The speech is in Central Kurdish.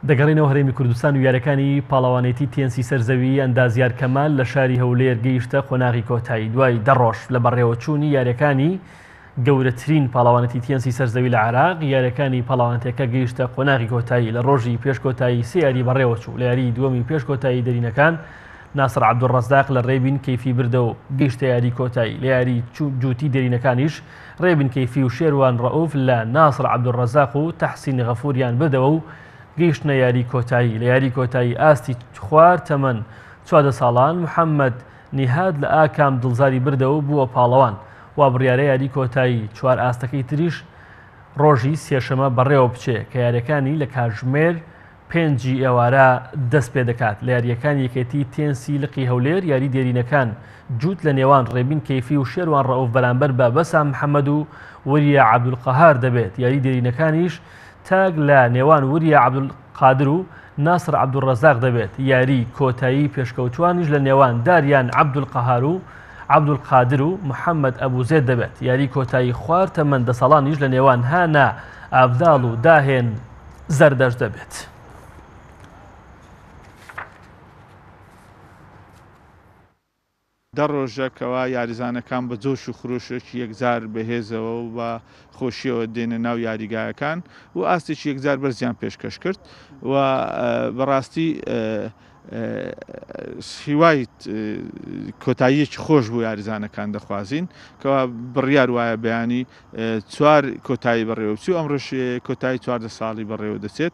دەگەڕێینەوە هەرێمی کوردستان و یاریەکانی پاڵەوانێتی تێنسی سەر زەویی ئەندازیار کەمال لە شاری هەولێر گەیشتە قۆناغی کۆتایی دوای دە ڕۆژ لە بەڕێوەچوونی یاریەکانی گەورەترین پاڵەوانێتی تێنسی سەر زەوی لە عێراق یاریەکانی پاڵەوانێتەکە گەیشتە قۆناغی کۆتایی لە ڕۆژی پێش کۆتایی سێ یاری بەڕێوەچوو لە یاری دووەمی پێش کۆتایی دەرینەکان ناسر عەبدولڕەزاق لە ڕێبین کەیفی بردەوە گەیشتە یاری کۆتایی لە یاری جووتی دەرینەکانیش رێبن کەیفی و شێروان رەئوف لە ناسڕ عەبدولرەزاق و تەحسین غەفوریان بردەوە و گەیشتنە یاری کۆتایی، لە یاری کۆتایی ئاستی چوار تەمەن چواردە ساڵان محەمەد نیهاد لە ئاکام دڵزاری بردەوە و بووە پاڵەوان، وابڕیارە یاری کۆتایی چوار ئاستەکەی تریش رۆژی سێشەمە بەڕێوەبچێ کە یاریەکانی لە کاتژمێر پێنج ی ئێوارە دەست پێ دەکات لە یارییەکانی یەکێتی تێنسی لقی هەولێر یاری دێرینەکان جووت لە نێوان ڕێبین کەیفی و شێروان ڕەئوف بەرامبەر بە بەسام محەمەد و وریا عەبدولقەهار دەبێت یاری دێرینەکانیش تاگ لە نێوان وریا عەبدولقادر و ناسر عەبدولرەزاق دەبێت یاری کۆتایی پێشکەوتووانیش لە نێوان داریان عەبدولقەهار و عەبدولقادر و محەمەد ئەبو زێد دەبێت یاری کۆتایی خوار تەمەن دە ساڵانیش لە نێوان هانا ئابداڵ و داهێن زەردەشت دەبێت. دە ڕۆژە کەوا یاریزانەکان بە جۆش و خرۆشێکی یەکجار بەهێزەوە و بە خۆشیەوە دێنە ناو یاریگایەکان و ئاستێکی یەکجار بەرزیان پێشکەش کرد و بەڕاستی هیوایت کۆتاییەکی خۆش بوو یاریزانەکان دەخوازین کەوا بڕیار وایە بەیانی چوار کۆتایی بەڕێوەچوو، ئەمڕۆش کۆتایی چواردە ساڵی بەڕێوەدەچێت.